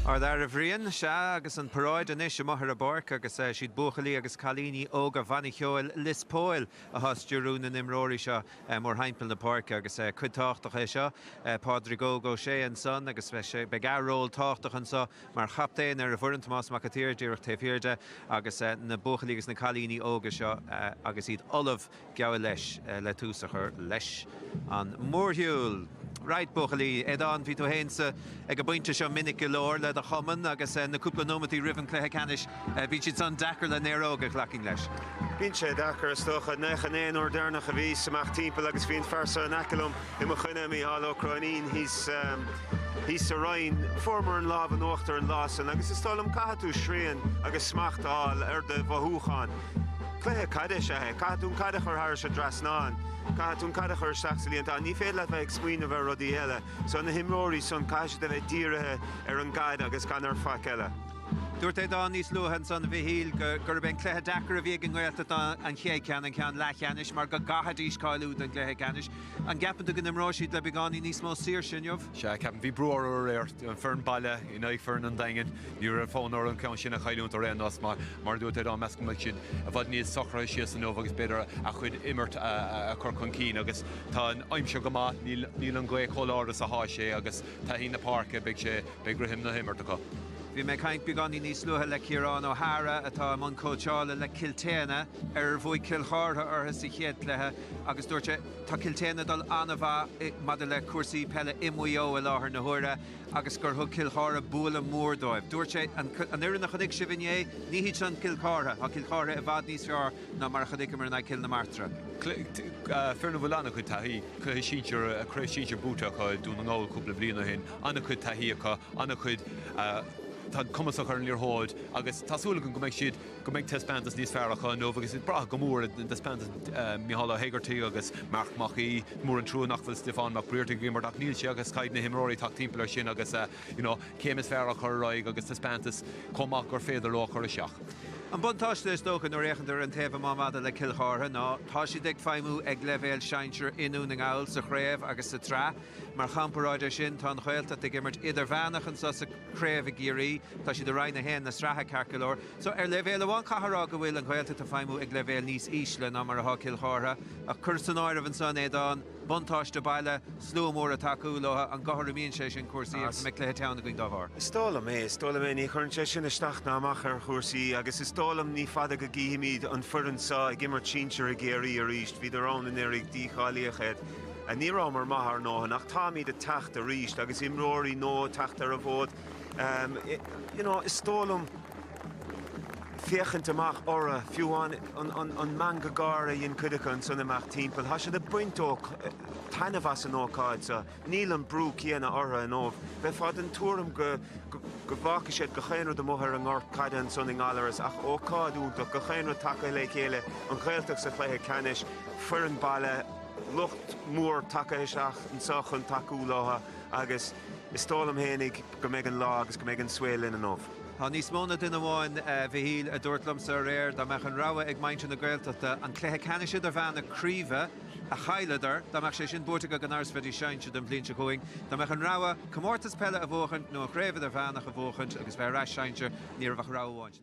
Ard fhear, a Bhriain, Sea, agus an paráid anois amuigh ar an bpáirc agus siad buachaillí agus cailíní óga Bhanna Cheoil Lios Póil athá stiúrú na n-imreoirí seo mór thimpeall na páirce agus cuid tábhachtach é seo. Pádraig Óg Ó Sé ansan agus beidh a' ról tábhachtach anso mar chaptaen ar a' bhfoireann, Tomás Mac a' tSaoir díreach taobh thiar de agus na buachaillí agus na cailíní óga seo agus iad ullamh geall leis, le tús a chur leis an mórshiúl. Right, buachaillí. Aodán, bhí tú fhéin sa, ag an bpointe seo minic go leor le do chumann agus na cúpla nóimeataí roimh an cluiche ceannais, bíonn siad san deacair le néaróga ghlacfainn leis. Bíonn sé deacair is dócha. 'Sé an t-aon uair deireanach a bhíos amach timpeall agus bhí an fear so in aice liom i mo choinne, Micheál Ó Cróinín, thíos sa Rinn. Fuaireamar an lámh in uachtar an lá san agus is dóigh liom caithfidh tú srian agus smacht a fháil ar do mhothúcháin. Cluiche caide is ea é. Caithfidh tú an caid a chur thairis an dtrasnán. Caithfidh tú an caid a chur isteach sa líontán. Ní féidir leat bheith ag smaoineamh ar rudaí eile. So na himreoirí san, caithfidh siad a bheith dírithe ar an gcaid agus gan iad ar faic eile. Dúirt Aodán níos luaithe ansan, a Mhichíl, gurb é an cluiche deacair a bhí ag an nGaeltacht ná an chéad cheann, an ceann leathcheannais, mar go gcaithfidís cáiliú don gcluiche ceannais. An gceapann tú go n-imreoidh siad le beagáinín níos mó saoirse inniu? Sea, ceapaim. Bhí brú orthu aréir. An foireann baile in aghaidh foireann an Daingin, ní raibh fonn orthu an ceann sin a chailliúint ar aon nós mar, mar a dúirt Aodán, measaim go mbeidh siad i bhfad níos socraithe síos inniu agus b'fhéidir a gcuid imirt a chur chun cinn agus tá an aimsir go maith, níl an ghaoth chomh láidir is a bhí sé agus taithí na páirce, beidh sé, beidh rithim na himirt acu. Bhí mé ag caint beagáinín níos luaithe le Ciarán O'Hara atá i mbun cóitseála le Cill tSéadhna, ar ar bhuaigh Cill Chartha orthu sa chéad chluiche, Agus dúirt sé, Tá Cill tSéadhna ag dul an-mhaith maidir le cúrsaí peile i Maigh Eo i láthair na huaire agus gur thug Cill Chartha bualadh mór dóibh. Dúirt sé, An fhoireann a chonaic sibh inné, ní hiad sin Cill Chartha. Tá Cill Chartha i bhfad níos fearr ná mar a chonaiceamar in aghaidh Chill na Martra. Foireann a bhfuil an-chuid taithí, cluiche sinsir, craobh shinsir buaite acu i nDún na nGall cúpla bliain ó shin. An-chuid taithí acu, an-chuid, tá an cumas acu ar an liathróid agus tá súil agam go mbeidh siad, go mbeidh taispeántas níos fearr acu inniu agus iad ag brath go mór ar thaispeántas Mhichíl Ó hÉigeartaigh agus Marc Mac Aoidh. Is mór an trua nach bhfuil Stiofán Mac Briartaigh ag imirt ach níl sé agus caithfidh na himreoirí teacht timpeall ar sin agus you know an chéim is fearr a chur ar aghaidh agus taispeántas chomh maith gur féidir leo a chur isteach. An buntáiste is dócha nuair fhéachann tú ar an taobh amuigh maidir le Cill Chártha ná tá siad ag feidhmiú ag leibhéal sinsir i nDún na nGall sa chraobh agus sa tsraith. I gcomparáid leis sin, tá an Ghaeltacht ag imirt idirmheánach anseo sa craobh i gCiarraí. Tá siad i Roinn a hAon na sraithe, ceart go leor. So, ar leibhéal amháin caithfidh a rá go bhfuil an Ghaeltacht ag feidhmiú ag leibhéal níos ísle ná mar atá Cill Chártha. Ach cuir san áireamh ansan, Aodán, buntáiste baile, slua mór ag tacú leo, an gcothromaíonn sé sin cúrsaí agus an mbeidh cluiche teann againn dá bharr? Is dóigh liom é, is dóigh liom é. Ní chuireann sé sin isteach ná amach ar chúrsaí agus is dóigh liom ní fada go gcífimid an foireann seo ag imirt sinsir i gCiarraí arís. Bhíodar ann anuraidh, dícháilíodh iad. Ní rabhamar maith ár ndóthain ach táimíd ag teacht arís agus imreoirí nua ag teacht ar an bhfód. You know, is dóigh liom féachaint amach ortha, fiú amháin an meangadh gáire a dhein cuid acu ansan amach timpeall, tá siad ag baint taitneamh as an ócáid seo. Níl an brú céanna ortha inniu. Bheifeá den tuairim go go bhfágfaidh siad gach aon rud amuigh ar an ngort caide ansan i nGallarus ach ócáid iontach, gach aon rud tagtha le chéile, an Ghaeltacht sa chluiche ceannais, foireann baile, lucht mór tacaithe isteach anso chun tacú leothu agus is dóigh liom féinig go mbeidh an lá agus go mbeidh an saol linn inniu. Tá níos mó na duine amháin, a Mhichíl, a dúirt liomsa aréir dá mbeadh an rogha ag muintir na Gaeltachta an cluiche ceannais idirmheánach craoibhe a chailleadar, dá mbeadh sé sin buaite acu gan amhras bheidís sinsear don bhliain seo chugainn, dá mbeadh an rogha comórtas peile a bhuachaint nó an chraobh idirmheánach a bhuachaint agus bheith ar ais sinsear, ní raibh ach rogha amháin.